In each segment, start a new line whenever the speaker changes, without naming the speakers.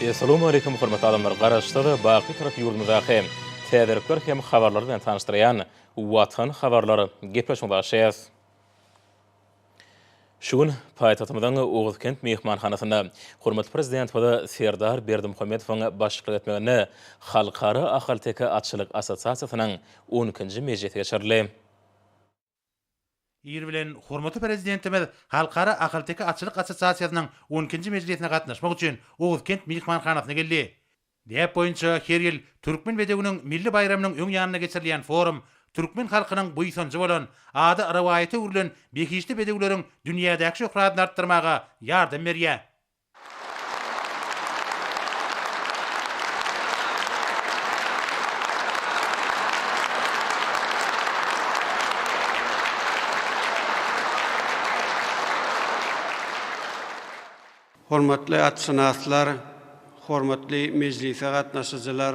Essalawmaleýkum hormatly adamlar Garaşsyz baky tarap ýurdumyzdaky täzelikler hem habarlar bilen tanyşdyrýan Watan habarlar gepleşigine başlaýas. Şu gün paýtagtymyzyň Oguzkent myhmanhanasynda hormatly Prezidentimiz Serdar Berdimuhamedowyň başçylyk etmeginde Halkara ahalteke atçylyk assosiasiýasynyň on ikinji mejlisi geçirildi.
Ir bilen hormatly Prezidentimiz Halkara ahalteke atçylyk assosiasiýasynyň on ikinji mejlisine gatnaşmak üçin Oguzkent myhmanhanasyna geldi. Däp boýunça her ýyl Türkmen bedewiniň milli baýramynyň öň ýanynda geçirilýän forum türkmen halkynyň buýsanjy bolan, ady rowaýata öwrülen behişdi bedewleriň dünýädäki şöhratyny artdyrmaga ýardam berýär.
Hormatly atşynaslar, hormatly mejlise gatnaşyjylar!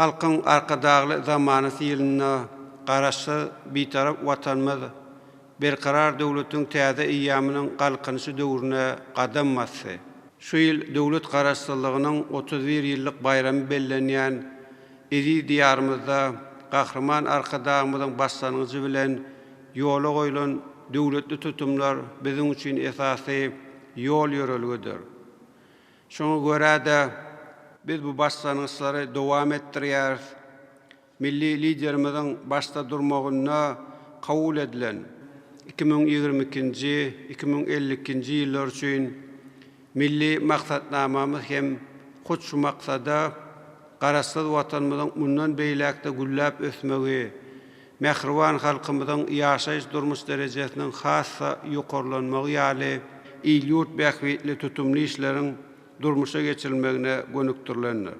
Halkyň Arkadagly zamanasy ýylynda Garaşsyz, Bitarap Watanymyz Berkarar döwletiň täze eýýamynyň Galkynyşy döwrüne gadam basdy. Şu ýyl döwlet Garaşsyzlygynyň otuz bir ýyllyk baýramy bellenýän Eziz Diýarymyzda Gahryman Arkadagymyzyň başlangyjy bilen ýola goýlan döwletli tutumlar biziň üçin esasy ýol-ýörelgedir. Şoňa görä-de, biz bu başlangyçlary dowam etdirýäris. Milli Liderimiziň başda durmagynda kabul edilen iki müň ýigrimi ikinji, iki müň elli ikinji ýyllar üçin, Milli maksatnamamyz hem hut şu maksada Garaşsyz Watanymyzyň mundan beýläk-de gülläp ösmegi, mähriban halkymyzyň ýaşaýyş-durmuş derejesiniň has-da ýokarlanmagy ýaly il-ýurt bähbitli tutumly işleriň durmuşa geçirilmegine gönükdirilendir.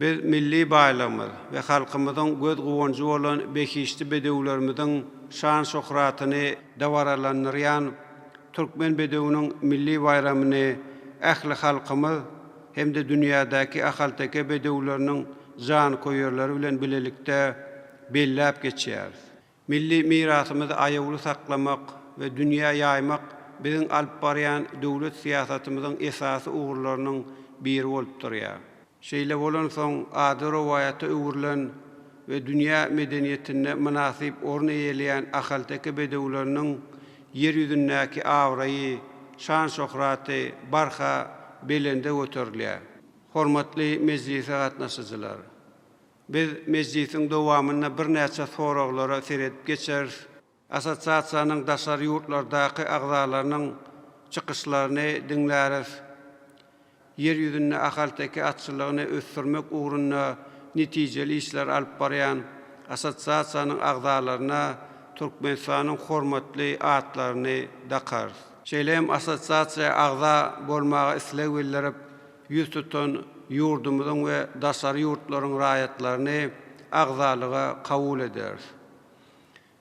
Biz milli baýlygymyz we halkymyzyň göz guwanjy bolan behişdi bedewlerimiziň şan-şöhratyny dabaralandyrýan Türkmen bedewiniň milli baýramyny ähli halkymyz hem-de dünýädäki ahalteke bedewleriniň janköýerleri bilen bilelikde belläp geçýäris. Milli mirasymyzy aýawly saklamak we dünýä ýaýmak biziň alyp barýan döwlet syýasatymyzyň esasy ugurlarynyň biri bolup durýar. Şeýle bolansoň, ady rowaýata öwrülen we dünýä medeniýetinde mynasyp orun eýeleýän ahalteke bedewleriniň Ýer ýüzündäki abraýy, şan-şöhraty barha belende göterilýär. Hormatly mejlise gatnaşyjylar! Biz mejlisiň dowamynda birnäçe soraglara seredip geçeris. Assosiasiýanyň daşary ýurtlardaky agzalarynyň çykyşlaryny diňläris. Ýer ýüzünde ahalteke atçylygyny ösdürmek ugrunda netijeli işler alyp barýan assosiasiýanyň agzalaryna Türkmenistanyň hormatly atlaryny dakarys. Şeýle hem assosiasiýa agza bolmaga isleg bildirip, ýüz tutan ýurdumyzyň we daşary ýurtlaryň raýatlaryny agzalyga kabul ederis.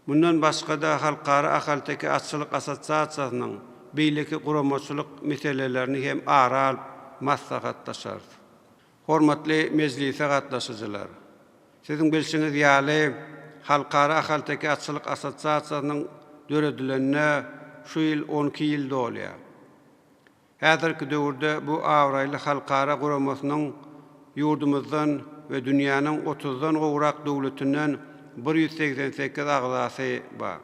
Mundan başga-da, Halkara ahalteke atçylyk assosiasiýasynyň beýleki guramaçylyk meselelerini hem ara alyp maslahatlaşarys. Hormatly mejlise gatnaşyjylar! Siziň bilşiňiz ýaly, Halkara ahalteke atçylyk assosiasiýasynyň döredilenine şu ýyl on iki ýyl dolýar. Häzirki döwürde bu abraýly halkara guramasynyň ýurdumyzdan we dünýäniň otuzdan gowrak döwletinden bir ýüz segsen sekiz agzasy bar.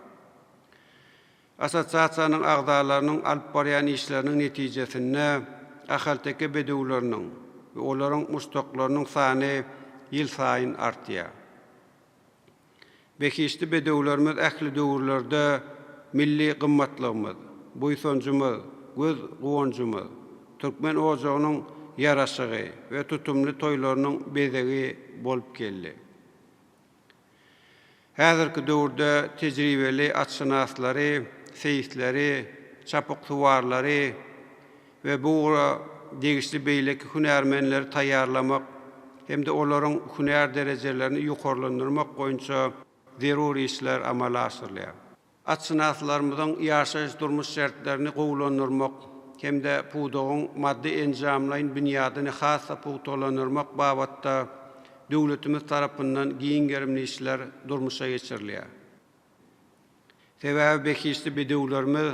Assosiasiýanyň agzalarynyň alyp barýan işleriniň netijesinde ahalteke bedewleriniň we olaryň muşdaklarynyň sany ýylsaýyn artýar. Behişdi bedewlerimiz ähli döwürlerde milli gymmatlygymyz, buýsanjymyz, göz guwanjymyz, türkmen ojagynyň ýaraşygy we tutumly toýlarynyň bezegi bolup geldi. Häzirki döwürde tejribeli atşynaslary, seýisleri, çapyksuwarlary, we bu ugra degişli beýleki hünärmenleri taýýarlamak hem-de olaryň hünär derejelerini ýokarlandyrmak boýunça zerur işler amala aşyrylýar. Atşynaslarymyzyň ýaşaýyş-durmuş şertlerini gowulandyrmak hem-de pudagyň maddy-enjamlaýyn binýadyny has-da pugtalandyrmak babatda döwletimiz tarapyndan giň gerimli işler durmuşa geçirilýär. Sebäbi behişdi bedewlerimiz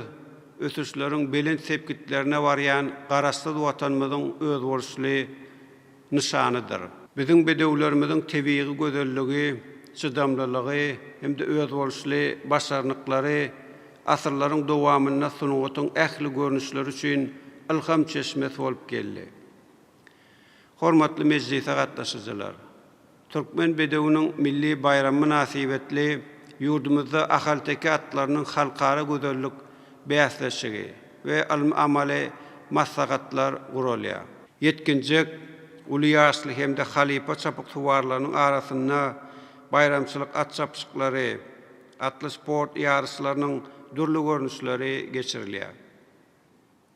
ösüşleriň belent sepgitlerine barýan Garaşsyz Watanymyzyň özboluşly nyşanydyr. Biziň bedewlerimiziň tebigy gözelligi, çydamlylygy hem-de özboluşly başarnyklary asyrlaryň dowamynda sungatyň ähli görnüşleri üçin ylham çeşmesi bolup geldi. Hormatly mejlise gatnaşyjylar! Türkmen bedewiniň milli baýramy mynasybetli ýurdumyzda ahalteke atlarynyň halkara gözellik bäsleşigi we ylmy-amaly maslahatlar guralýar. Ýetginjek, uly ýaşly hem-de halypa çapyksuwarlarynyň arasynda baýramçylyk at çapyşyklary, atly sport ýaryşlarynyň dürli görnüşleri geçirilýär.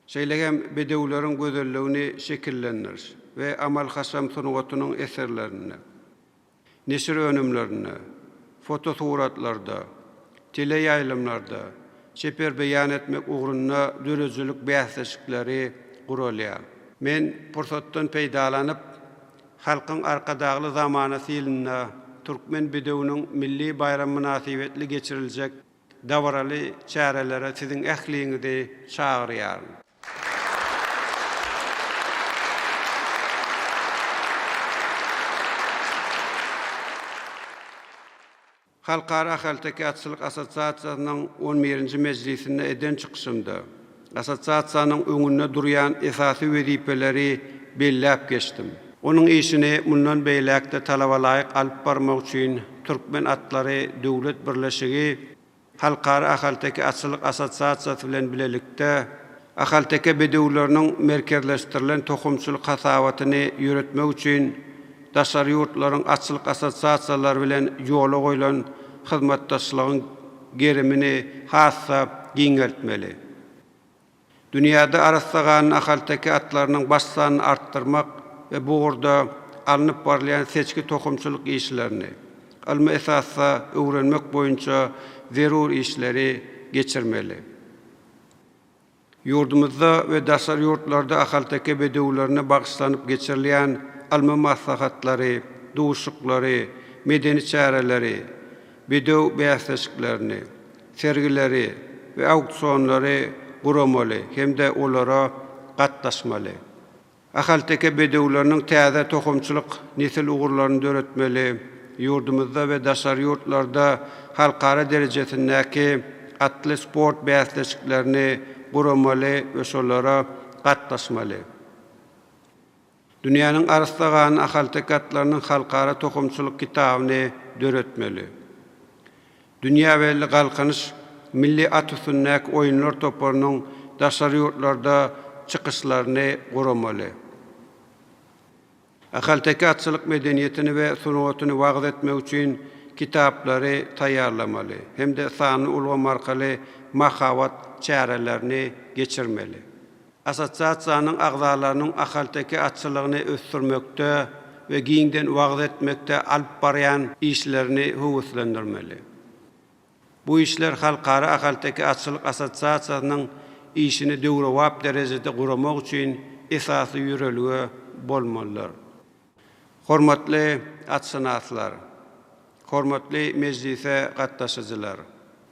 Şeýle hem bedewleriň gözelligini şekillendiriş we amal-haşam sungatynyň eserlerinde, neşir önümlerinde, fotosuratlarda, teleýaýlymlarda çeper beýan etmek ugrunda döredijilik bäsleşikleri guralýar. Men pursatdan peýdalanyp, Halkyň Arkadagly zamanasy ýylynda Türkmen bedewiniň milli baýramy mynasybetli geçiriljek Dabaraly çärelere siziň ähliňizi çagyrýaryn. Halkara ahalteke atçylyk assosiasiýasynyň on birinji mejlisinde eden çykyşymda, Assosiasiýanyň öňünde durýan esasy wezipeleri belläp geçdim. Onuň işini mundan beýläk-de talabalaýyk alyp barmak üçin Türkmen atlary döwlet birleşigi Halkara ahalteke atçylyk assosiasiýasy bilen bilelikde ahalteke bedewleriniň merkezleşdirilen tohumçylyk hasabatyny ýöretmek üçin daşary ýurtlaryň atçylyk assosiasiýalary bilen ýola goýlan hyzmatdaşlygyň gerimini has-da giňeltmeli. Dünýäde arassa ganly ahalteke atlarynyň baş sanyny artdyrmak we bu ugurda alnyp barylýan seçgi-tohumçylyk işlerini ylmy esasda öwrenmek boýunça zerur işleri geçirmeli. Ýurdumyzda we daşary ýurtlarda ahalteke bedewlerine bagyşlanyp geçirilýän ylmy maslahatlary, duşuklary, medeni çäreleri, bedew bäsleşiklerini, sergileri we auksionlary guramaly hem-de olara gatnaşmaly. Ahalteke bedewleriniň täze tohumçylyk nesil ugurlaryny döretmeli, ýurdumyzda we daşary ýurtlarda halkara derejesindäki atly sport bäsleşiklerini guramaly we şolara gatnaşmaly. Dünýäniň arassa gan ahalteke atlarynyň halkara tohumçylyk kitabyny döretmeli. Dünýä belli Galkynyş milli at üstündäki oýunlar toparynyň daşary ýurtlarda çykyşlaryny guramaly. Ahalteke atçylyk medeniýetini we sungatyny wagyz etmek üçin kitaplary taýýarlamaly hem-de sanly ulgam arkaly mahabat çärelerini geçirmeli. Assosiasiýanyň agzalarynyň ahalteke atçylygyny ösdürmekde we giňden wagyz etmekde alyp barýan işlerini höweslendirmeli. Bu işler Halkara ahalteke atçylyk assosiasiýasynyň işini döwrebap derejede guramak üçin esasy ýörelge bolmalydyr. Hormatly atşynaslar! Hormatly mejlise gatnaşyjylar!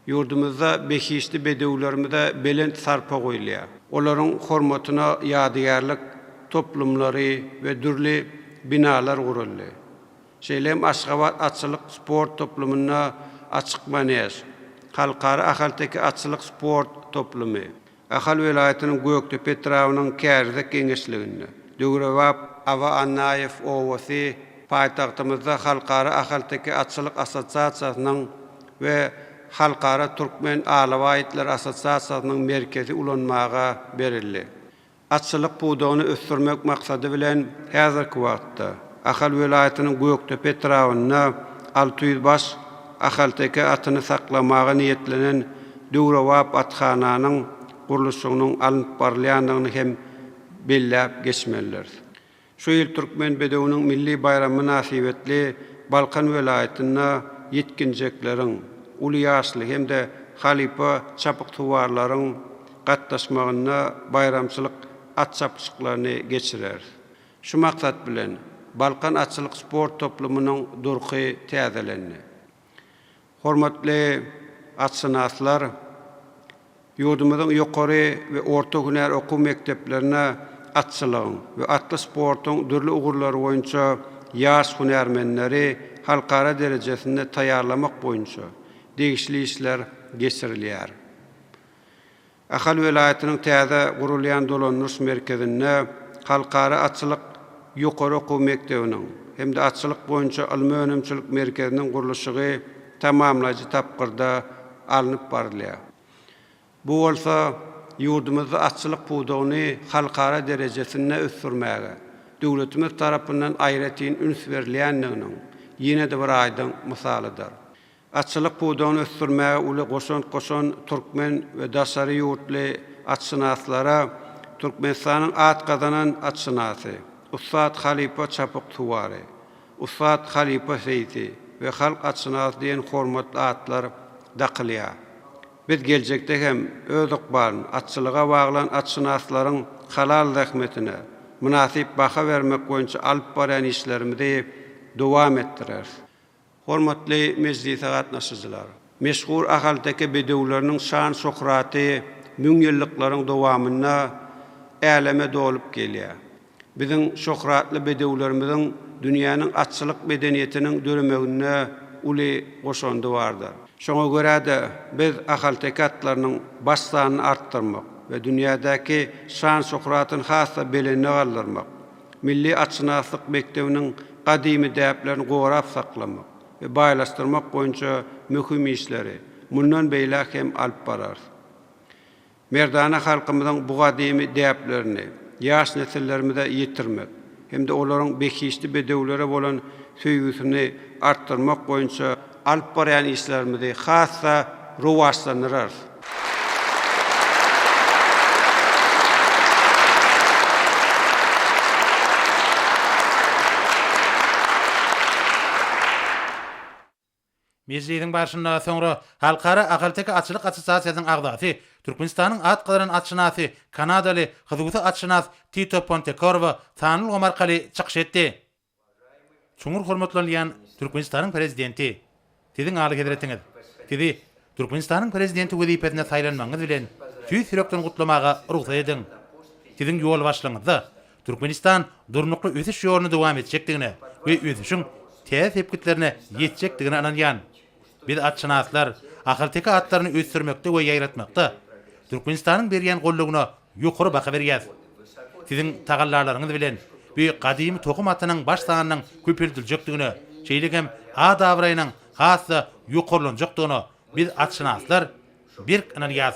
Ýurdumyzda behişdi bedewlerimize belent sarpa goýulýar. Olaryň hormatyna ýadygärlik toplumlary we dürli binalar guruldy. Şeýle hem Aşgabat atçylyk sport toplumynda Açyk manež, Halkara ahalteke atçylyk sport toplumy, Ahal welaýatynyň Gökdepe etrabynyň Kärizek geňeşliginde, döwrebap Aba Annaýew obasy, paýtagtymyzda Halkara ahalteke atçylyk assosiasiýasynyň we Halkara türkmen alabaý itleri assosiasiýasynyň merkezi ulanmaga berildi. Atçylyk pudagyny ösdürmek maksady bilen, häzirki wagtda Ahal welaýatynyň Gökdepe etrabynda alty ýüz baş ahalteke atyny saklamaga niýetlenen döwrebap athananyň gurluşygynyň alnyp barylýandygyny hem belläp geçmelidiris. Şu ýyl Türkmen bedewiniň milli baýramy mynasybetli Balkan welaýatynda ýetginjekleriň, uly ýaşly hem-de halypa çapyksuwarlaryň gatnaşmagynda baýramçylyk at çapyşyklaryny geçireris. Şu maksat bilen, Balkan atçylyk sport toplumynyň durky täzelendi. Hormatly atşynaslar ýurdumyzyň ýokary we orta hünär okuw mekdeplerine atçylygyň we atly sportuň dürli ugurlary boýunça ýaş hünärmenleri halkara derejesinde taýýarlamak boýunça degişli işler geçirilýär. Ahal welaýatynyň täze gurulýan dolandyryş merkezinde Halkara atçylyk ýokary okuw mekdebiniň hem-de Atçylyk boýunça ylmy-önümçilik merkeziniň gurluşygy tamamlaýjy tapgyrda alnyp barylýar. Bu bolsa ýurdumyzda atçylyk pudagyny halkara derejesinde ösdürmäge döwletimiz tarapyndan aýratyn üns berilýändiginiň ýene-de bir aýdyň mysalydyr. Atçylyk pudagyny ösdürmäge uly goşant goşan türkmen we daşary ýurtly atşynaslara Türkmenistanyň at gazanan atşynasy, ussat halypa çapyk suwary, ussat halypa seýsi we halk atşynasy diýen hormatly atlar dakylýar. Biz geljekde hem öz ykbalyny atçylyga baglan atşynaslaryň halal zähmetine mynasyp baha bermek boýunça alyp barýan işlerimizi dowam etdireris. Hormatly mejlise gatnaşyjylar! Meşhur ahalteke bedewleriniň şan-şöhraty müňýyllyklaryň dowamynda äleme dolup gelýär. Biziň şöhratly bedewlerimiziň dünýäniň atçylyk medeniýetiniň döremeginde uly goşandy bardyr. Şoňa görä-de, biz ahalteke atlarynyň baş sanyny artdyrmak we dünýädäki şan-şöhratyny has-da belende galdyrmak, Milli atşynaslyk mekdebiniň gadymy däplerini gorap saklamak we baýlaşdyrmak boýunça möhüm işleri mundan beýläk hem alyp bararys. Merdana halkymyzyň bu gadymy däplerini ýaş nesillerimize ýetirmek hem-de olaryň behişdi bedewlere bolan söýgüsini artdyrmak boýunça alyp barýan işlerimizi has-da rowaçlandyrarys.
Mejlisiň barşynda soňra Halkara ahalteke atçylyk assosiasiýasynyň agzasy, Türkmenistanyň at gazanan atşynasy, kanadaly, husuwsy atşynas Tito Pontekorwo sanly ulgam arkaly çykyş etdi. Çuňňur hormatlanylýan Türkmenistanyň Prezidenti! Siziň Alyhezretiňiz! Sizi Türkmenistanyň Prezidenti wezipesine saýlanmagyňyz bilen tüýs ýürekden gutlamaga rugsat ediň! Siziň ýolbaşçylygyňyzda Türkmenistan durnukly ösüş ýoluny dowam etjekdigine we ösüşiň täze sepgitlerine ýetjekdigine ynanýan. Biz atşynaslar ahalteke atlaryny ösdürmekde we ýaýratmakda Türkmenistanyň berýän goldawyna ýokary baha berýäs. Siziň tagallalaryňyz bilen bu gadymy tohum atynyň baş sanynyň köpeldiljekdigine, şeýle hem at-abraýynyň has-da ýokarlanjakdygyna biz atşynaslar berk ynanýas.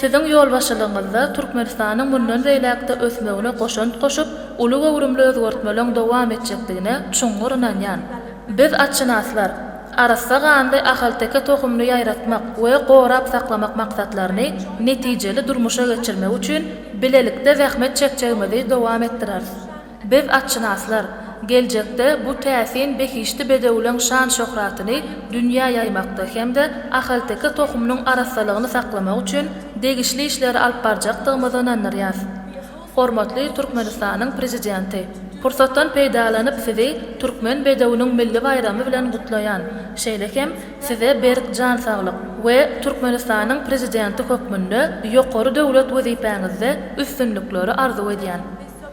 Siziň ýolbaşçylygyňyzda Türkmenistanyň mundan beýläk-de ösmegine goşant goşup, uly göwrümli özgertmeleriň dowam etjekdigine çuňňur ynanýan. Biz, atşynaslar, arassa ganly ahalteke tohumyny ýaýratmak we gorap saklamak maksatlaryny netijeli durmuşa geçirmek üçin bilelikde zähmet çekjegimizi dowam etdireris. Biz atşynaslar, geljekde bu täsin behişdi bedewleň şan-şöhratyny dünýä ýaýmakda hem-de ahalteke tohumynyň arassalygyny saklamak üçin degişli işleri alyp barjakdygymyza ynandyrýas. Hormatly Türkmenistanyň Prezidenti, pursatdan peýdalanyp Sizi Türkmen bedewiniň milli baýramy bilen gutlaýan, şeýle hem Size berk jan saglyk we Türkmenistanyň Prezidenti hökmünde ýokary döwlet wezipäňizde üstünlikleri arzuw edýän.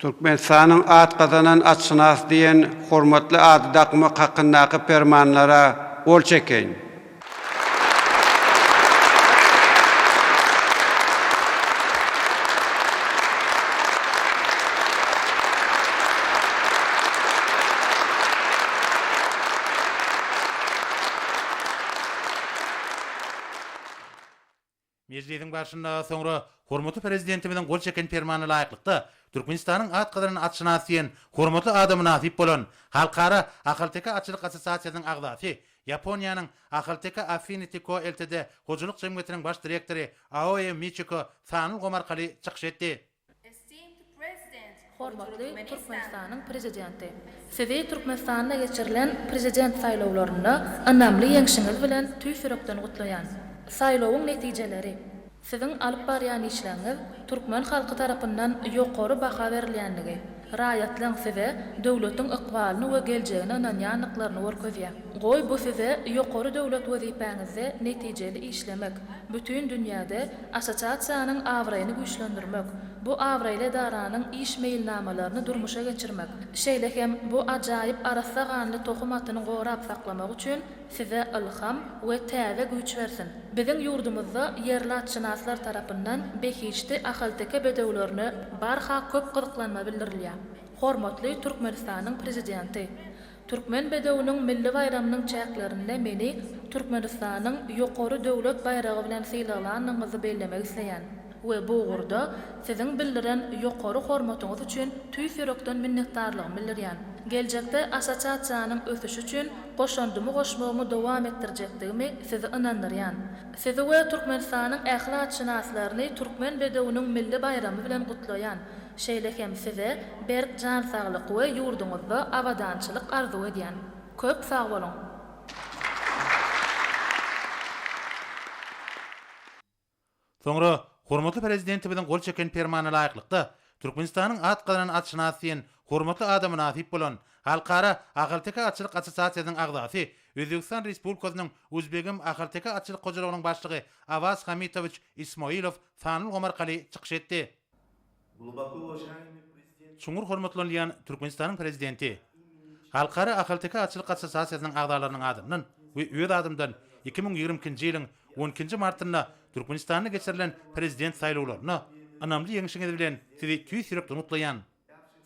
Türkmenistanyň at gazanan atşynasy diýen hormatly ady dakmak hakyndaky Permanlara gol çekeýin.
Mejlisiň barşynda soňra hormatly Prezidentimiziň gol çeken Permanyna laýyklykda, Türkmenistanyň at gazanan atşynas diýen hormatly ada mynasyp bolan Halkara ahalteke atçylyk assosiasiýasynyň agzasy, Ýaponiýanyň Ahalteke Affinity Co Ltd. Hojalyk jemgyýetiniň baş direktory Aoe Miçiko sanly ulgam arkaly çykyş etdi.
Hormatly Türkmenistanyň Prezidenti! Sizi Türkmenistanda geçirilen Prezident saýlawlarynda ynamly ýeňşiňiz bilen tüýs ýürekden gutlaýan. Saýlawyň netijeleri, Siziň alyp barýan işleriňiz türkmen halky tarapyndan ýokary baha berilýändigi, Raýatlaň size döwletiň ykbalyny we geljegine ynanýandyklaryny görkezýär. Goý, bu size ýokary döwlet wezipäňizde netijeli işlemek, bütin dünýäde Assosiasiýanyň abraýyny güýçlendirmek, bu abraýly edaranyň iş meýilnamalaryny durmuşa geçirmek, şeýle hem bu ajaýyp arassa ganly tohum atyny gorap saklamak üçin Size ylham we täze güýç bersin! Biziň ýurdumyzda ýerli atşynaslar tarapyndan behişdi ahalteke bedewlerine barha köp gyzyklanma bildirilýär. Hormatly Türkmenistanyň Prezidenti! Türkmen bedewiniň milli baýramynyň çäklerinde meni Türkmenistanyň ýokary döwlet baýragy bilen sylaglanyňyzy bellemek isleýän. we bu ugurda Siziň bildiren ýokary hormatyňyz üçin tüýs ýürekden minnetdarlygymy bildirýän. Geljekde Assosiasiýanyň ösüşi üçin goşandymy goşmagymy dowam etdirjekdigimi Sizi ynandyrýan. Sizi we Türkmenistanyň ähli atşynaslaryny Türkmen bedewiniň milli baýramy bilen gutlaýan, şeýle hem Size berk jan saglyk we ýurduňyzda abadançylyk arzuw edýän. Köp sag boluň!
Soňra hormatly Prezidentimiziň gol çeken Permanyna laýyklykda, Türkmenistanyň at gazanan atşynasy diýen hormatly ada mynasyp bolan Halkara ahalteke atçylyk assosiasiýasynyň agzasy, Özbegistan Respublikasynyň Uzbegim ahalteke atçylyk hojalygynyň başlygy Awaz Hamitowiç Ismoilow Sanlygomar Kali çykyş etdi. Çuňňur hormatlanylýan Türkmenistanyň Prezidenti, Halkara ahalteke atçylyk assosiasiýasynyň agzalarynyň adyndan we öz adymdan iki müň ýigrimi ikinji ýylyň on ikinji martynda Türkmenistanda geçirilen Prezident saýlawlarynda ynamly ýeňişiňiz bilen Sizi tüýs ýürekden gutlaýan.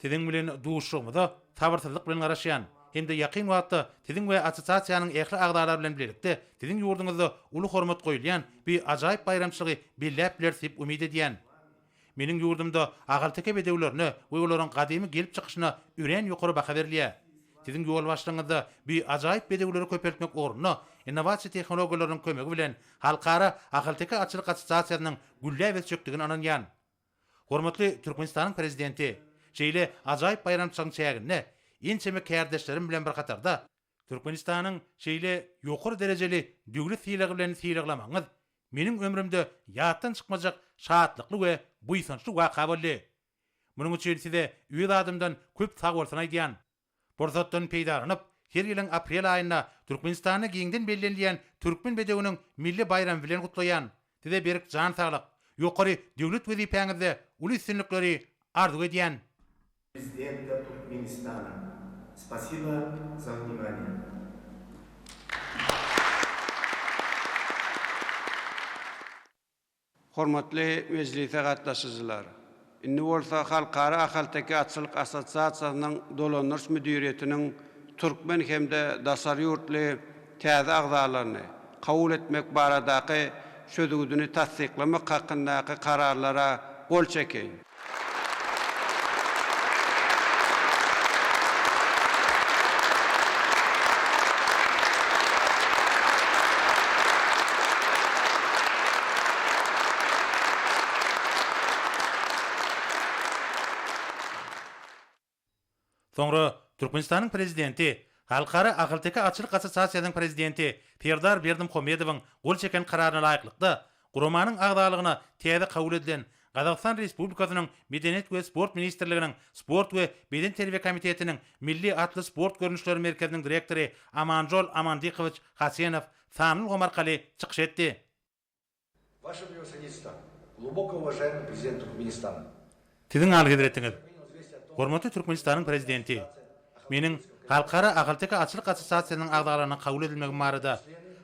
Siziň bilen duşuşygymyza sabyrsyzlyk bilen garaşýan hem-de ýakyn wagtda Siziň we assosiasiýanyň ähli agzalary bilen bilelikde Siziň ýurduňyzda uly hormat goýulýan bi ajaýyp baýramçylygy belläp bileris diýip umyt edýän. Meniň ýurdumda ahalteke bedewlerine we olaryň gadymy gelip çykyşyna örän ýokary baha berilýär. Siziň ýolbaşçylygyňyzda bu ajaýyp bedewleri köpeltmek ugrunda innowasiýa tehnologiýalarynyň kömegi bilen Halkara ahalteke atçylyk assosiasiýasynyň gülläp ösjekdigine ynanýan. Hormatly Türkmenistanyň Prezidenti, şeýle ajaýyp baýramçylygyň çäginde ençeme kärdeşlerim bilen bir hatarda, Türkmenistanyň şeýle ýokary derejeli döwlet sylagy bilen sylaglamagyňyz meniň ömrümde ýatdan çykmajak şatlykly we buýsançly waka boldy. Munuň üçin size öz adymdan köp sagbolsun aýdýan. Pursatdan peýdalanyp, her ýylyň aprel aýynda Türkmenistanda giňden bellenilýän Türkmen bedewiniň milli baýramy bilen gutlaýan. Size berk jan saglyk, ýokary döwlet wezipäňizde uly üstünlikleri arzuw edýän.
Prezidenta Türkmenistana. Spasiba
za vnimaniýe. Hormatly mejlise gatnaşyjylar! Indi bolsa Halkara ahalteke atçylyk assosiasiýasynyň dolandyryş müdiriýetiniň türkmen hem-de daşary ýurtly täze agzalaryny kabul etmek baradaky çözgüdini tassyklamak hakyndaky Kararlara gol çekiň.
Soňra Türkmenistanyň Prezidenti, Halkara ahalteke atçylyk assosiasiýasynyň prezidenti Serdar Berdimuhamedowyň gol çeken kararyna laýyklykda, guramanyň agzalygyna täze kabul edilen Gazagystan Respublikasynyň Medeniýet we sport ministrliginiň Sport we bedenterbiýe komitetiniň Milli atly sport görnüşleri merkeziniň direktory Amanjol Amandikowiç Hasenow sanly ulgam arkaly çykyş etdi.
Wаше Prevosaditstvo, Gluboko uvažaýamyý Prezident Turkmenistana! Siziň
Alyhezretiňiz, hormatly Türkmenistanyň Prezidenti, meniň Halkara ahalteke atçylyk assosiasiýasynyň agzalaryna kabul edilmegim barada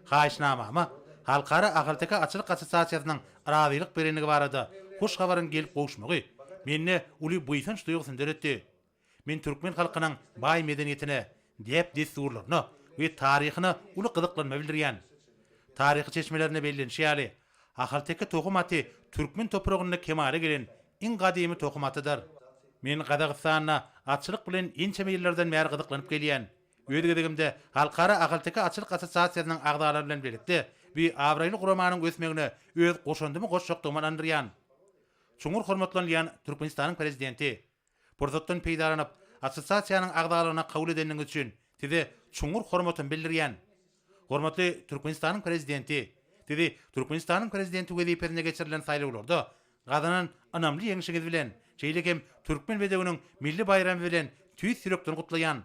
haýyşnamama Halkara ahalteke atçylyk assosiasiýasynyň razylyk berendigi barada hoş habaryň gelip gowuşmagy mende uly buýsanç duýgusyny döretdi. Men türkmen halkynyň baý medeniýetine, däp-dessurlaryna we taryhyna uly gyzyklanma bildirýän. Taryhy çeşmelerinde bellenişi ýaly, ahalteke tohum aty türkmen topragynda kemala gelen iň gadymy tohum atydyr. Men Gazagystanda atçylyk bilen ençeme ýyllardan bäri gyzyklanyp gelýän. Öz gezegimde Halkara ahalteke atçylyk assosiasiýasynyň agzalary bilen birlikde bi abraýly guramanyň ösmegine öz goşandymy goşjakdygyma ynandyrýan. Çuňňur hormatlanylýan Türkmenistanyň Prezidenti! Pursatdan peýdalanyp, assosiasiýanyň agzalygyna kabul edeniňiz üçin Size çuňňur hormatymy bildirýän. Hormatly Türkmenistanyň Prezidenti, Sizi Türkmenistanyň Prezidenti wezipesine geçirilen saýlawlarda gazanan ynamly ýeňşiňiz bilen, şeýle hem Türkmen bedewiniň milli baýramy bilen tüýs ýürekden gutlaýan.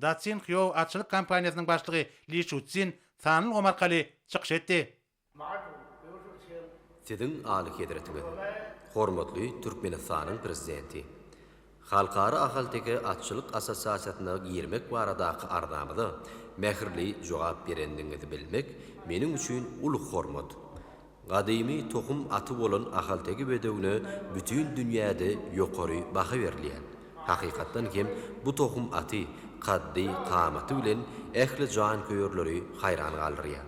Da Tsinghyo atçylyk kompaniýasynyň başlygy Li Şuçzin sanly ulgam arkaly çykyş etdi.
Siziň Alyhezretiňiz, hormatly Türkmenistanyň Prezidenti! Halkara ahalteke atçylyk assosiasiýasyna girmek baradaky arzamyza mähirli jogap berendigiňizi bilmek meniň üçin uly hormat. Gadymy tohum aty bolan ahalteke bedewine bütin dünýäde ýokary baha berilýär. Hakykatdan hem, bu tohum aty kaddy, kamaty bilen ähli janköýerleri haýran galdyrýar.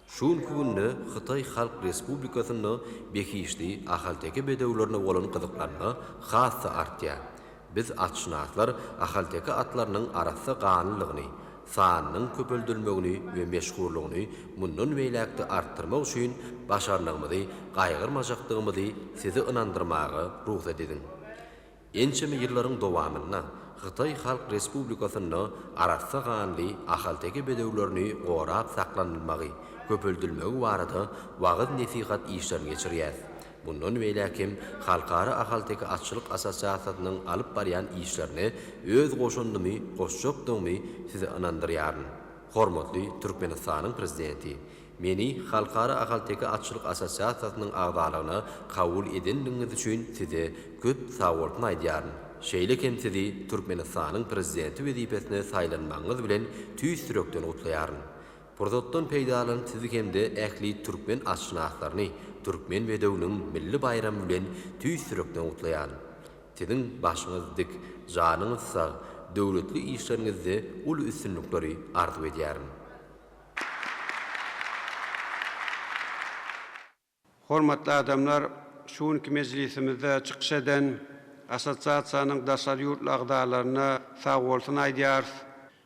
Şu günki günde Hytaý Halk Respublikasynda behişdi ahalteke bedewlerine bolan gyzyklanma has-da artýar. Biz atşynaslar ahalteke atlarynyň arassa ganlylygyny, sanynyň köpeldilmegini we meşhurlygyny mundan beýläk-de artdyrmak üçin başarnygymyzy gaýgyrmajakdygymyzy sizi ynandyrmaga rugsat ediň. Ençeme ýyllaryň dowamynda Hytaý Halk Respublikasynda arassa ganly ahalteke bedewlerini gorap saklanylmagy, köpeldilmegi barada wagyz-nesihat işlerini geçirýäs. Mundan beýläk hem Halkara ahalteke atçylyk assosiasiýasynyň alyp barýan işlerine öz goşandymy goşjakdygymy sizi ynandyrýaryn. Hormatly Türkmenistanyň Prezidenti, meni Halkara ahalteke atçylyk assosiasiýasynyň agzalygyna kabul edendigiňiz üçin size köp sagbolsun aýdýaryn. Şeýle hem sizi Türkmenistanyň Prezidenti wezipesine saýlanmagyňyz bilen tüýs ýürekden gutlaýaryn. Pursatdan peýdalanyp sizi hem-de ähli türkmen atşynaslaryny Türkmen bedewiniň milli baýramy bilen tüýs ýürekden gutlaýan. Siziň başyňyz dik, janyňyz sag, döwletli işleriňizde uly üstünlikleri arzuw edýärin.
Hormatly adamlar, şu günki mejlisimizde çykyş eden Assosiasiýanyň daşary ýurtly agzalaryna sagbolsun aýdýarys.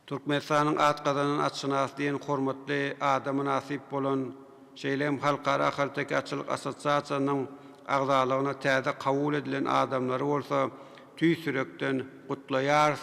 Türkmenistanyň at gazanan atşynasy diýen hormatly ada mynasyp bolan, şeýle hem Halkara ahalteke atçylyk assosiasiýasynyň agzalygyna täze kabul edilen adamlary bolsa tüýs ýürekden gutlaýarys.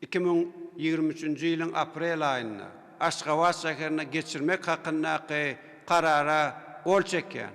Iki müň ýigrimi üçünji ýylyň aprel aýynda Aşgabat şäherinde geçirmek hakyndaky Karara gol çekýän.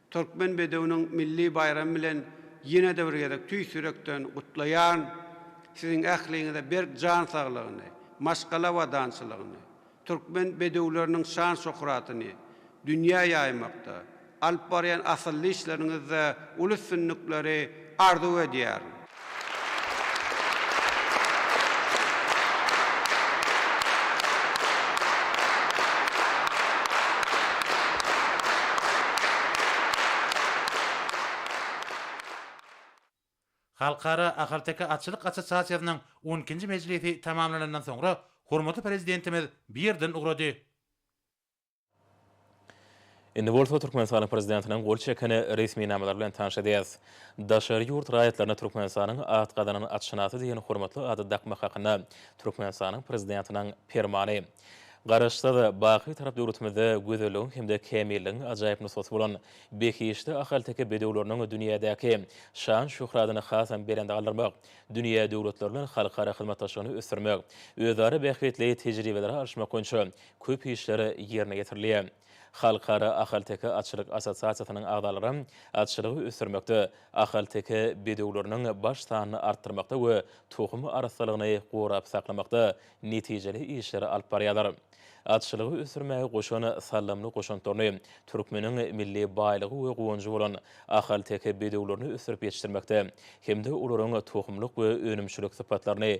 Türkmen bedewiniň milli baýramy bilen ýene-de bir gezek tüýs ýürekden gutlaýaryn. Siziň ähliňize berk jan saglygyny, maşgala abadançylygyny, türkmen bedewleriniň şan-şöhratyny dünýä ýaýmakda, alyp barýan asylly işleriňizde uly üstünlikleri arzuw edýärin.
Halkara ahalteke atçylyk assosiasiýasynyň on ikinji mejlisi tamamlanandan soňra hormatly Prezidentimiz bu ýerden ugrady.
Indi bolsa Türkmenistanyň prezidentiniň gol çeken resminamalary bilen tanyş edýäris. Daşary ýurt raýatlaryna Türkmenistanyň at gazanan atşynasy diýen hormatly ady dakmak hakynda Türkmenistanyň prezidentiniň Permany. Garaşsyz, baky tarap döwletimizde gözelligiň hem-de kämilligiň ajaýyp nusgasy bolan behişdi ahalteke bedewleriniň dünýädäki şan-şöhratyny hasam belende galdyrmak, dünýä döwletleri bilen halkara hyzmatdaşlygyny ösdürmek, özara bähbitli tejribeleri alyşmak boýunça köp işler ýerine ýetirilýär. Halkara ahalteke atçylyk assosiasiýasynyň agzalary atçylygy ösdürmekde, ahalteke bedewleriniň baş sanyny artdyrmakda we tohum arassalygyny gorap saklamakda netijeli işleri alyp barýarlar. Atçylygy ösdürmäge goşan saldamly goşantlaryny, türkmeniň milli baýlygy we guwanjy bolan ahalteke bedewlerini ösdürip ýetişdirmekde hem-de olaryň tohumlyk we önümçilik sypatlaryny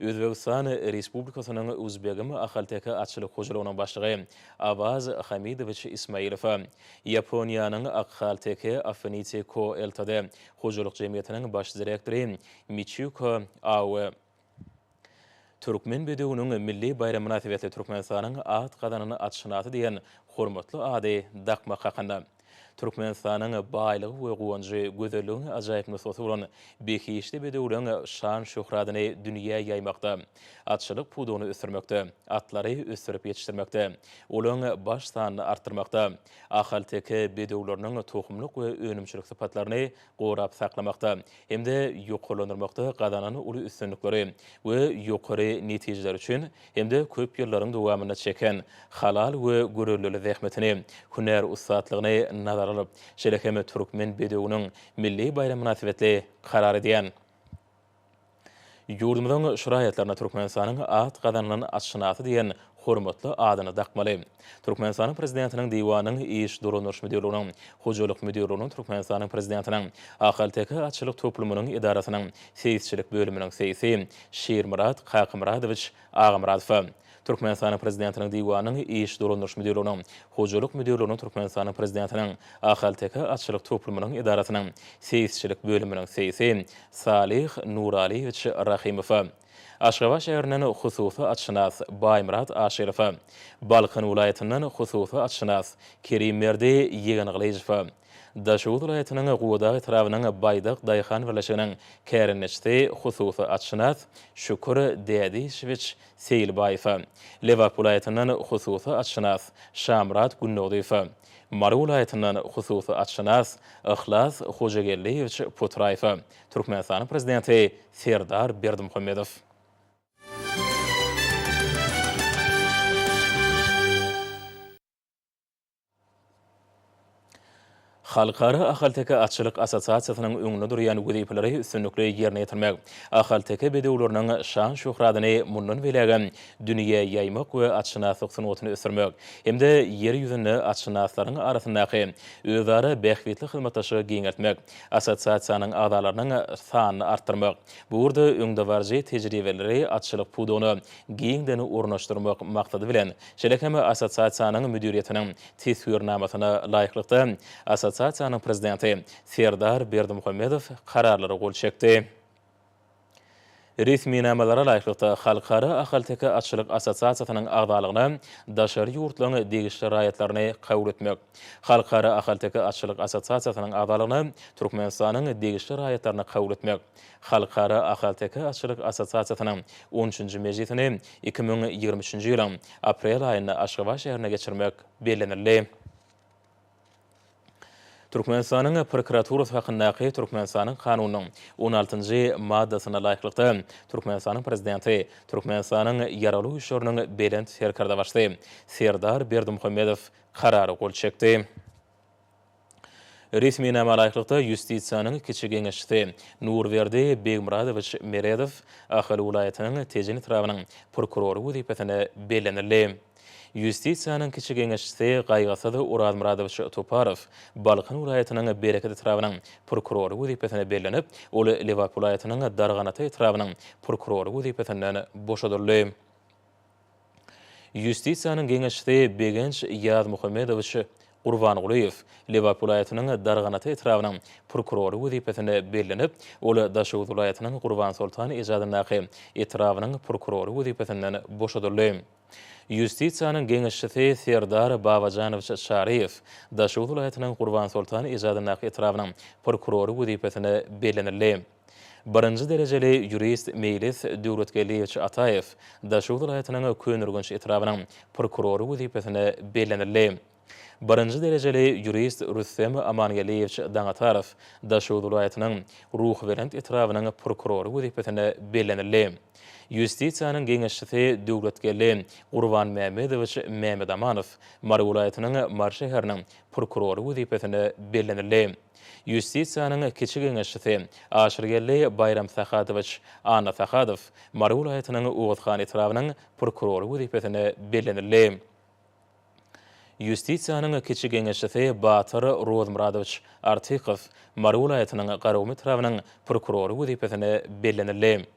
Özbegistan Respublikasynyň Uzbegim ahalteke atçylyk hojalygynyň başlygy Awaz Hamidowiç Ismailowa, Ýaponiýanyň Akhalteke Affinity Co Ltd hojalyk jemgyýetiniň baş direktory Miçiko Aoe, Türkmen bedewiniň milli baýramy mynasybetli Türkmenistanyň at gazanan atşynasy diýen hormatly ady dakmak hakynda. Türkmenistanyň baýlygy we guwanjy, gözelligiň ajaýyp nusgasy bolan behişdi bedewleň şan-şöhratyny dünýä ýaýmakda, atçylyk pudagyny ösdürmekde, atlary ösdürip ýetişdirmekde, olaryň baş sanyny artdyrmakda, ahalteke bedewleriniň tohumlyk we önümçilik sypatlaryny gorap saklamakda hem-de ýokarlandyrmakda gazanan uly üstünlikleri we ýokary netijeleri üçin hem-de köp ýyllaryň dowamynda çeken halal we gürrüldili zähmetini, hünär ussatlygyny nazara alyp, şeýle hem Türkmen bedewiniň milli baýramy mynasybetli karar edýän. Ýurdumyzyň şraýatlaryna Türkmenistanyň at gazanylan atşynasy diýen hormatly adyny dakmaly. Türkmenistanyň Prezidentiniň Diwanynyň Iş dolandyryş müdirliginiň, Hojalyk müdirliginiň, Türkmenistanyň Prezidentiniň Ahalteke atçylyk toplumynyň edarasynyň seýisçilik bölüminiň seýisi Şirmyrat Kakamyradowiç Agamyradowa, Türkmenistanyň Prezidentiniň Diwanynyň Iş dolandyryş müdirliginiň, Hojalyk müdirliginiň Türkmenistanyň Prezidentiniň Ahalteke atçylyk toplumynyň edarasynyň seýisçilik bölüminiň seýsi Salyh Nuralyýewiç Rahymowa, Aşgabat şäherinden hususy atşynas Baýmyrat Aşyrowa, Balkan welaýatyndan hususy atşynas Kerimberdi Ýegengylyjowa, Daşoguz welaýatynyň Gubadag etrabynyň Baýdak daýhan birleşiginiň kärendeçisi, hususy atşynas Şükür Dädişewiç Seýilbaýewe, Lebap welaýatyndan hususy atşynas Şamyrat Gündogdyýewe, Mary welaýatyndan hususy atşynas Yhlas Hojageldiýewiç Putraýewe Türkmenistanyň Prezidenti Serdar Berdimuhamedow. Halkara ahalteke atçylyk assosiasiýasynyň öňünde durýan wezipeleri üstünlikli ýerine ýetirmek, ahalteke bedewleriniň şan-şöhratyny mundan beýlägem dünýä ýaýmak we atşynaslyk sungatyny ösdürmek hem-de Ýer ýüzünde atşynaslaryň arasyndaky özara bähbitli hyzmatdaşlygy giňeltmek, assosiasiýanyň agzalarynyň sanyny artdyrmak, bu ugurda öňdebaryjy tejribeleri atçylyk pudagyna giňden ornaşdyrmak maksady bilen, Şeýle hem assosiasiýanyň müdiriýetiniň teswirnamasyna laýyklykda, assosiasiýanyň prezidenti Serdar Berdimuhamedow kararlara gol çekdi. Resminamalara laýyklykda, Halkara ahalteke atçylyk assosiasiýasynyň agzalygyna daşary ýurtlaryň degişli raýatlaryny kabul etmek, Halkara ahalteke atçylyk assosiasiýasynyň agzalygyna Türkmenistanyň degişli raýatlaryny kabul etmek, Halkara ahalteke atçylyk assosiasiýasynyň on üçünji mejlisini iki müň ýigrimi üçünji ýylyň aprel aýynda Aşgabat şäherinde geçirmek bellenildi. Türkmenistanyň prokuraturasy hakyndaky Türkmenistanyň Kanunynyň on altynjy maddasyna laýyklykda, Türkmenistanyň Prezidenti, Türkmenistanyň Ýaragly Güýçleriniň Belent Serkerdebaşysy Serdar Berdimuhamedow Karara gol çekdi. Resminama laýyklykda, Ýustisiýanyň kiçi geňeşçisi Nurberdi Begmyradowiç Meredow Ahal welaýatynyň Tejen etrabynyň prokurory wezipesine bellenildi. Ýustisiýanyň kiçi geňeşçisi Gaýgysyz Orazmyradowiç Toparow Balkan welaýatynyň Bereket etrabynyň prokurory wezipesine bellenip, ol Lebap welaýatynyň Darganata etrabynyň prokurory wezipesinden boşadyldy. Ýustisiýanyň geňeşçisi Begenç Ýazmuhammedowiç Gurbangulyýew Lebap welaýatynyň Darganata etrabynyň prokurory wezipesine bellenip, ol Daşoguz welaýatynyň Gurbansoltan ejadyndaky etrabynyň prokurory wezipesinden boşadyldy. Ýustisiýanyň geňeşçisi Serdar Babajanowiç Çaryýew Daşoguz welaýatynyň Gurbansoltan ejadyndaky etrabynyň prokurory wezipesine bellenildi. Birinji derejeli ýurist Meýlis Döwletgeldiýewiç Ataýew Daşoguz welaýatynyň Köneürgenç etrabynyň prokurory wezipesine bellenildi. Birinji derejeli ýurist Rüstem Amangeldiýewiç Daňatarow Daşoguz welaýatynyň Ruhubelent etrabynyň prokurory wezipesine bellenildi. Ýustisiýanyň geňeşçisi Döwletgeldi Gurbanmämmedowiç Mämedamanow Mary welaýatynyň Mary şäheriniň prokurory wezipesine bellenildi. Ýustisiýanyň kiçi geňeşçisi Aşyrgeldi Baýramsahadowiç Annasahadow Mary welaýatynyň Oguzhan etrabynyň prokurory wezipesine bellenildi. Ýustisiýanyň kiçi geňeşçisi Batyr Rozmyradowiç Artykow Mary welaýatynyň Garagum etrabynyň prokurory wezipesine bellenildi.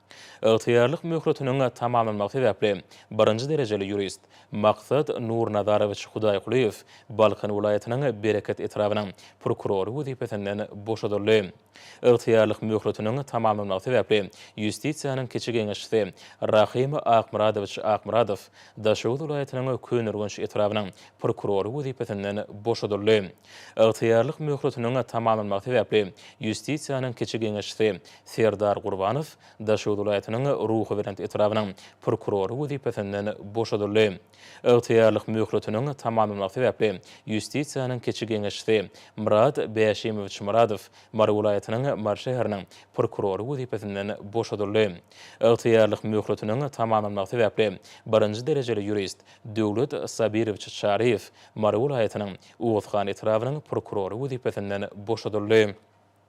Ygtyýarlyk möhletiniň tamamlanmagy sebäpli, birinji derejeli ýurist Maksat Nurnazarowiç Hudaýkulyýew Balkan welaýatynyň Bereket etrabynyň prokurory wezipesinden boşadyldy. Ygtyýarlyk möhletiniň tamamlanmagy sebäpli, Ýustisiýanyň kiçi geňeşçisi Rahym Akmyradowiç Akmyradow Daşoguz welaýatynyň Köneürgenç etrabynyň prokurory wezipesinden boşadyldy. Ygtyýarlyk möhletiniň tamamlanmagy sebäpli, Ýustisiýanyň kiçi geňeşçisi Serdar Gurbanow Daşoguz welaýatynyň Ruhubelent etrabynyň prokurory wezipesinden boşadyldy. Ygtyýarlyk möhletiniň tamamlanmagy sebäpli Ýustisiýanyň kiçi geňeşçisi Myrat Bäşimowiç Myradow Mary welaýatynyň Mary şäheriniň prokurory wezipesinden boşadyldy. Ygtyýarlyk möhletiniň tamamlanmagy sebäpli birinji derejeli ýurist Döwlet Sabirowiç Çaryýew Mary welaýatynyň Oguzhan etrabynyň prokurory wezipesinden boşadyldy.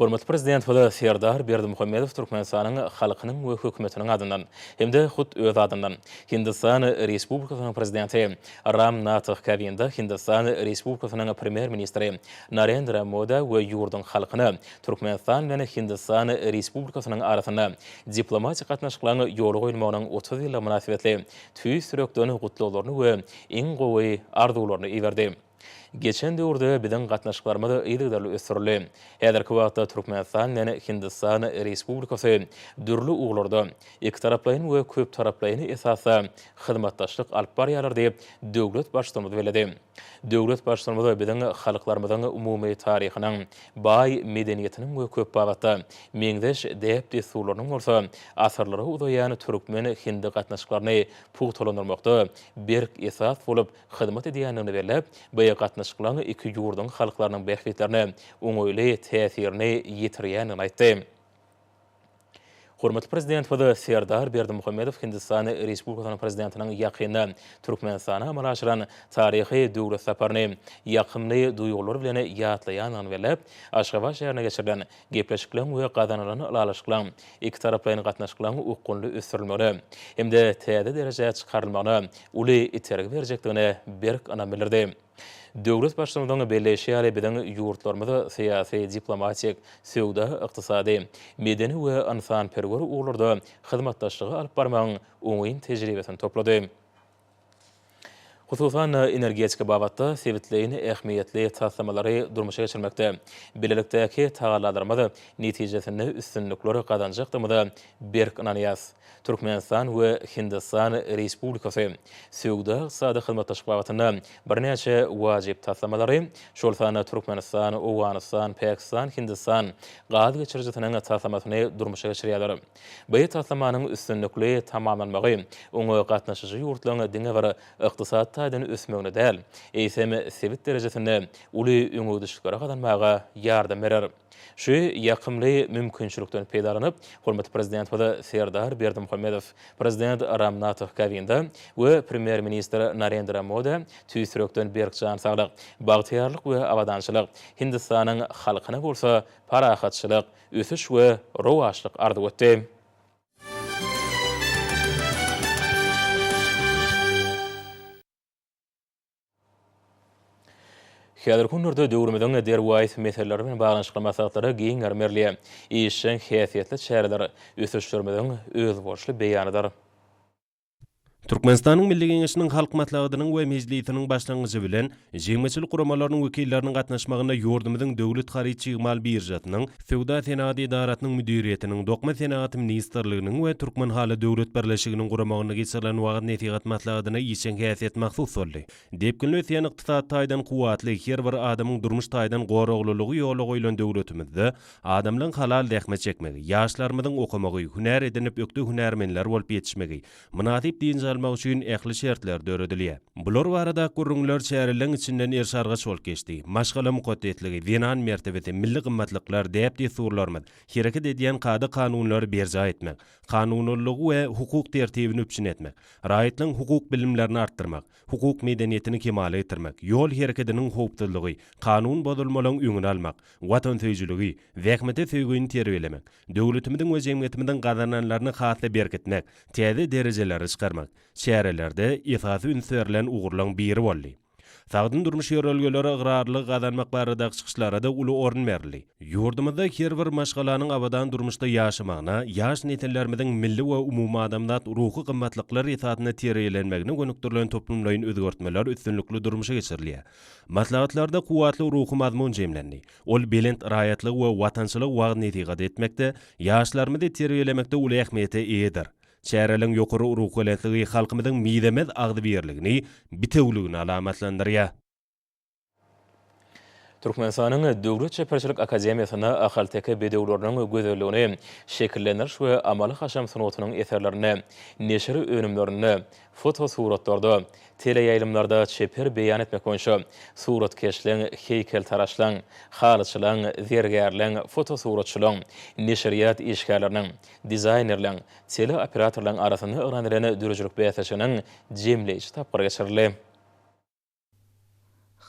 Hormatly Prezidentimiz Serdar Berdimuhamedow Türkmenistanyň halkynyň we Hökümetiniň adyndan hem-de hut öz adyndan Hindistan Respublikasynyň Prezidenti Ram Nath Kovinda, Hindistan Respublikasynyň Premýer-ministri Narendra Moda we ýurduň halkyna Türkmenistan bilen Hindistan Respublikasynyň arasynda diplomatik gatnaşyklaryň ýola goýulmagynyň otuz ýyllygy mynasybetli tüýs ýürekden gutlaglaryny we iň gowy arzuwlaryny iberdi. Geçen döwürde biziň gatnaşyklarymyz yzygiderli ösdürildi. Häzirki wagtda Türkmenistan bilen Hindistan Respublikasy dürli ugurlarda ikitaraplaýyn we köptaraplaýyn esasda hyzmatdaşlyk alyp barýarlar diýip, döwlet Baştutanymyz belledi. Döwlet Baştutanymyz biziň halklarymyzyň umumy taryhynyň, baý medeniýetiniň we köp babatda meňzeş däp-dessurlarynyň bolsa asyrlara uzaýan türkmen-hindi gatnaşyklaryny pugtalandyrmakda berk esas bolup hyzmat edýändigini belläp, bu gatnaşyklaryň iki ýurduň halklarynyň bähbitlerine oňaýly täsirini ýetirýändigini aýtdy. Hormatly Prezidentimiz Serdar Berdimuhamedow Hindistan Respublikasynyň Prezidentiniň ýakynda Türkmenistana amala aşyran taryhy döwlet saparyny ýakymly duýgular bilen ýatlaýandygyny belläp, Aşgabat şäherinde geçirilen Gepleşikleriň we gazanylan ylalaşyklaryň ikitaraplaýyn gatnaşyklaryň okgunly ösdürilmegine hem-de täze derejä çykarylmagyna uly itergi berjekdigine berk ynam bildirdi. Döwlet Baştutanyň belleýşi ýaly, biziň ýurtlarymyz syýasy-diplomatik, söwda-ykdysady, medeni we ynsanperwer ugurlarda hyzmatdaşlygy alyp barmagyň oňyn tejribesini toplady. hususan, energetika babatda sebitleýin ähmiýetli taslamalary durmuşa geçirmekde bilelikdäki tagallalarymyz netijesinde üstünlikler gazanjakdygymyza berk ynanýarys. Türkmenistan we Hindistan Respublikasy söwda-ykdysady hyzmatdaşlyk babatynda birnäçe wajyp taslamalary, şol sanda Türkmenistan, Owganystan, Pakistan, Hindistan gaz geçirijisiniň taslamasyny durmuşa geçirýärler. Bu taslamanyň üstünlikli tamamlanmagy oňa gatnaşyjy ýurtlaryň diňe bir ykdysady taýdan ösmegine däl, eýsem, sebit derejesinde uly öňegidişlikleri gazanmaga ýardam berer. Şu ýakymly mümkinçilikden peýdalanyp, hormatly Prezidentimiz Serdar Berdimuhamedow, Prezident Ram Nath Kowinda we Premýer-ministr Narendra Moda tüýs ýürekden berk jan saglyk, bagtyýarlyk we abadançylyk, Hindistanyň halkyna bolsa parahatçylyk, ösüş we rowaçlyk arzuw etdi. Häzirki günlerde döwrümiziň derwaýys meseleleri bilen baglanyşykly maslahatlara giň mermerli, işjeň häsiýetli çäreler ösüşlerimiziň özboluşly beýanydyr. Türkmenistanyň
Milli Geňeşiniň Halk Maslahatynyň we Mejlisiniň başlangyjy bilen, jemgyýetçilik guramalarynyň wekilleriniň gatnaşmagynda ýurdumyzyň Döwlet haryt-çig-mal biržasynyň, Söwda-senagat edarasynyň müdiriýetiniň, Dokma senagaty ministrliginiň we Türkmenhaly döwlet birleşiginiň guramagynda geçirilen wagyz-nesihat maslahatyna işjeň häsiýet mahsus boldy. Depginli ösýän ykdysat taýdan kuwwatly, her bir adamyň durmuş taýdan goraglylygy ýola goýlan döwletimizde adamlaryň halal zähmet çekmegi, ýaşlarymyzyň okamagy, hünär edinip ökde hünärmenler bolup ýetişmegi, mynasyp dynç almagy üçin ähli şertler döredilýär. Bular barada gürrüňler çäreleň içinden erşargaç bolup geçdi. Maşgala mukaddesligi, zenan mertebesi, milli gymmatlyklar, däp-dessurlarymyz, hereket edýän kada-kanunlary berjaý etmek, kanunallygy we hukuk tertibini üpjün etmek, raýatlaryň hukuk bilimlerini artdyrmak, hukuk medeniýetini kemala getirmek, ýol hereketiniň howpsuzlygy, kanun bozulmalaryň öňüni almak, watansöýüjiligi, zähmete söýgini terbiýelemek, döwletimiziň we jemgyýetimiziň gazananlaryny has-da berkitmek, täze derejelere çykarmak çärelerde esasy üns berlen ugurlaryň biri boldy. Sagdyn durmuş ýörelgelere ygrarlylygy gazanmak baradaky çykyşlara-da uly orun berildi. Ýurdumyzda her bir maşgalanyň abadan durmuşda ýaşamagyna, ýaş nesillerimiziň milli we umumadamzat ruhy gymmatlyklar esasynda terbiýelenmegine gönükdirilen toplumlaýyn özgertmeler üstünlikli durmuşa geçirilýär. Maslahatlarda kuwwatly ruhy mazmun jemlendi. Ol belent raýatlygy we watançylygy wagyz-nesihat etmekde, ýaşlarymyzy terbiýelemekde uly ähmiýete eýedir. Çäreleriň ýokary ruhubelentdigi halkymyzyň mizemez agzybirligini, bitewüligini alamatlandyrýar.
Türkmenistanyň Döwlet çeperçilik akademiýasynda ahalteke bedewleriniň gözelligini şekillendiriş we amaly-haşam sungatynyň eserlerinde, neşir önümlerinde, fotosuratlarda, teleýaýlymlarda çeper beýan etmek boýunça suratkeşligiň, heýkeltaraşlygyň, halyçylygyň, zergärligiň, fotosuratçylygyň, neşirýat işgärleriniň, Dizaýnerleň, teleoperatorlaryň arasynda yglan edilen döredijilik bäsleşiginiň jemleýji tapgyry geçirildi.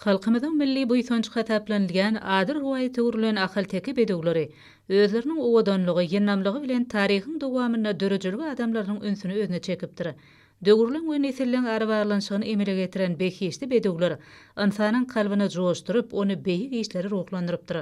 Halkymyzyň milli buýsanjy hasaplanylýan ady rowaýata öwrülen ahalteke bedewleri özleriniň owadanlygy, ýyndamlygy bilen taryhyň dowamynda döredijilik adamlarynyň ünsüni özüne çekipdir. Döwürleň we nesilleň arabaglanyşygyny emele getiren behişdi bedewler ynsanyň kalbyny joşduryp, ony beýik işlere ruhlandyrypdyr.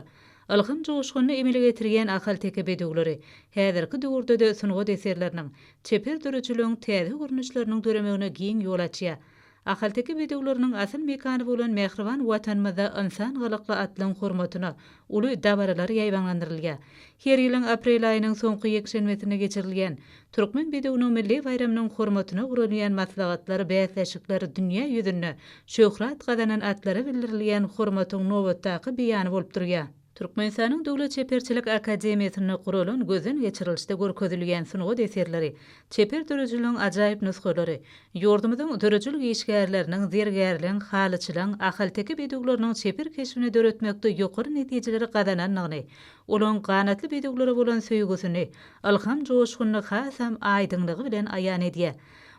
Ylham joşgunyny emele getirýän ahalteke bedewleri häzirki döwürde-de sungat eserleriniň, çeper döredijiliginiň täze görnüşleriniň döremegine giň ýol açýar. Ahalteke bedewleriniň asyl mekany bolan mähriban Watanymyzda Ynsan gylykly atlaryň hormatyna uly dabaralar ýaýbaňlandyrylýar. Her ýylyň aprel aýynyň soňky ýekşenbesinde geçirilýän Türkmen bedewiniň milli baýramynyň hormatyna guralýan maslahatlar, bäsleşikler dünýä ýüzünde şöhrat gazanan atlara bildirilýän hormatyň nobatdaky beýany bolup durýar. Türkmenistanyň Döwlet çeperçilik akademiýasynda guralan gözden geçirilişde görkezilýän sungat eserleri, çeper döredijiligiň ajaýyp nusgalary, ýurdumyzyň döredijilik işgärleriniň, zergärliň, halyçylaň, ahalteke bedewleriniň çeper keşbini döretmekde ýokary netijeleri gazanandygyny, olaryň ganatly bedewlere bolan söýgüsini, Ylham joşgunyny hasam aýdyňlygy bilen aýan edýär.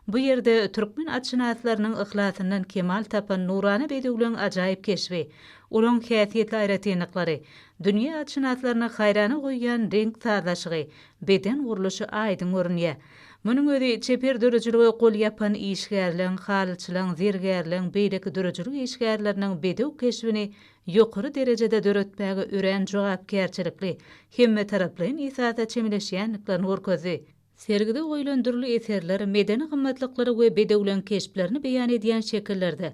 Bu ýerde türkmen atşynaslarynyň yhlasyndan kemal tapan nurana bedewleň ajaýyp keşbi, olaň häsiýetli aýratynlyklary, dünýä atşynaslaryny haýrana goýýan reňk sazlaşygy, beden gurluşy aýdyň görünýär. Munuň özi çeper döredijilige gol ýapan işgärleň, halyçylaň, zergärleň, beýleki döredijilik işgärleriniň bedew keşbini ýokary derejede döretmäge örän jogapkärçilikli, hemmetaraplaýyn esasa çemeleşýändiklerini görkezdi. Sergide goýlan dürli eserler, medeni gymmatlyklary we bedewleň keşplerini beýan edýän şekillerde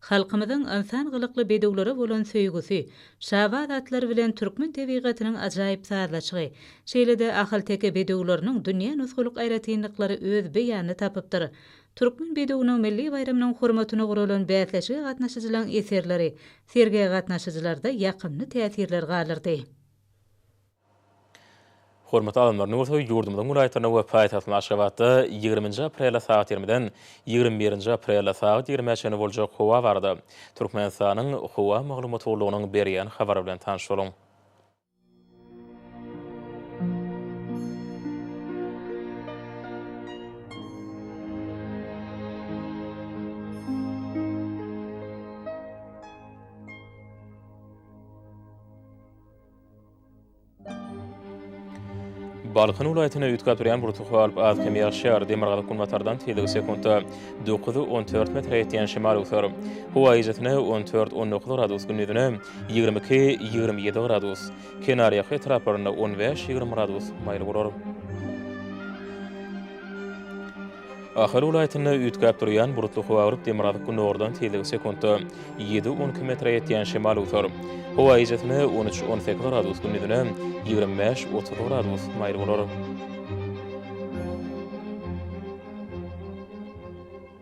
halkymyzyň ynsan gylykly bedewlere bolan söýgüsi, şabaz atlary bilen türkmen tebigatynyň ajaýyp sazlaşygy, şeýle-de ahalteke bedewleriniň dünýä nusgalyk aýratynlyklary öz beýanyny tapypdyr. Türkmen bedewiniň milli baýramynyň hormatyna guralan bäsleşige gatnaşyjylaryň eserleri sergä gatnaşyjylarda ýakymly täsirler galdyrdy.
Hormatly alymlar nurty ýurdumyzyň welaýatlarynda we paýtagtymyz Aşgabatda ýigrimi nji aprelde sagat ýigrimiden ýigrimi birinji aprelde sagat ýigrimä çenli boljak howa barada Türkmenistanyň Howa maglumat gullugynyň berýän habary bilen tanyş boluň. Balkan welaýatyna üýtgäp durýan burçluk galyp, az kem ýagşýar, demirgazyk-günbatardan tizligi sekuntda dokuz-on dört metre ýetýän şemal öwser. Howa eýjesine on dört-on dokuz gradus, gündizine, Ýigrimi iki, ýigrimi ýedi gradus. Kenarýaka etraplarynda on bäş, ýigrimi gradus maýyl bolar. Ahal welaýatynda üýtgäp durýan bulutly howa gyryp, demirgazyk gündogardan tizligi sekuntda ýedi, on iki metre ýetýän şemal öwser. Howa gijäsine on üç, on sekiz gradus, gündizine ýigrimi bäş, otuz gradus maýyl bolar.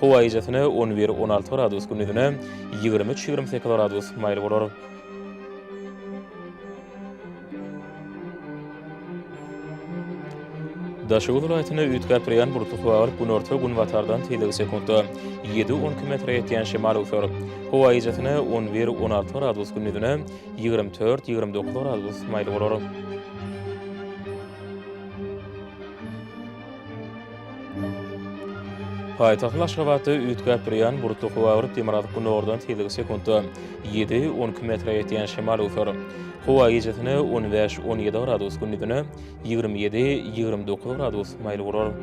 Howa gijesine on bir, on alty gradus, gündizine ýigrimi üç, ýigrimi sekiz gradus maýyl bolar. Daşoguz welaýatynda üýtgäp durýan bulutly howa bolup, günorta-günbatardan tizligi sekuntda ýedi-on iki metre ýetýän şemal öwser. Howa gijesine on bir, on alty gradus, gündizine ýigrimi dört, ýigrimi dokuz gradus maýyl bolar. Paýtagtyň Aşgabatda üýtgäp durýan bulutly howa bir demirgazyk günordan tizligi sekuntda ýedi, on iki metre ýetýän şemal öwser. Howa gijesine on bäş, on ýedi gradus, gündizine ýigrimi ýedi, ýigrimi dokuz gradus maýyl bolar.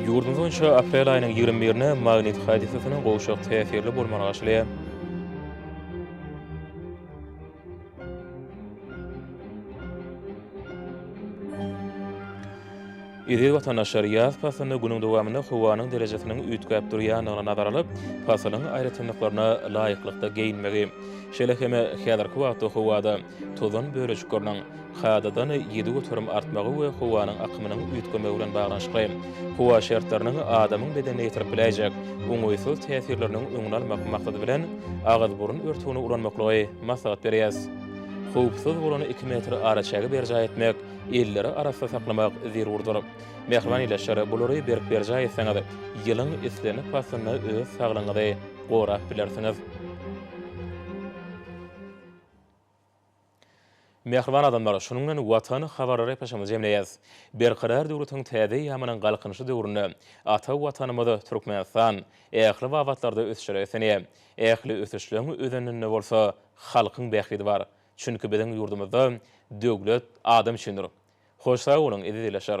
Ýurdumyz boýunça aprel aýynyň ýigrimi birine magnit hadysasynyň gowşak täsirli bolmagy garaşylýar. Eziz watandaşlar, ýaz paslynda günüň dowamynda howanyň derejesiniň üýtgäp durýandygyna nazar alyp, paslyň aýratynlyklaryna laýyklykda geýinmegi, şeýle hem häzirki wagtda howada tozan bölejikleriniň, kadadan ýedi göterim artmagy we howanyň akymynyň üýtgemegi bilen baglanyşykly howa şertleriniň adamyň bedenine ýetirip biläýjek oňaýsyz täsirleriniň öňüni almak maksady bilen, agyz-burun örtügini ulanmaklygy maslahat berýäs. Howpsuz bolan iki metr araçägi berjaý etmek, elleri arassa saklamak zerurdyr. Mähriban ildeşler, bulary berk berjaý etseňiz, ýylyň islendik paslynda öz saglygyňyzy gorap bilersiňiz. Mähriban adamlar, şunuň bilen Watan habarlary eposamyzy jemleýäs. Berkarar döwletiň täze eýýamynyň Galkynyşy döwründe ata Watanymyz Türkmenistan ähli babatlarda ösüşe reslenýär. Ähli ösüşleň özeninde bolsa halkyň bähbidi bar. Çünki biziň ýurdumyzda Döwlet adam üçindir. Hoş sag boluň, eziz ildeşler!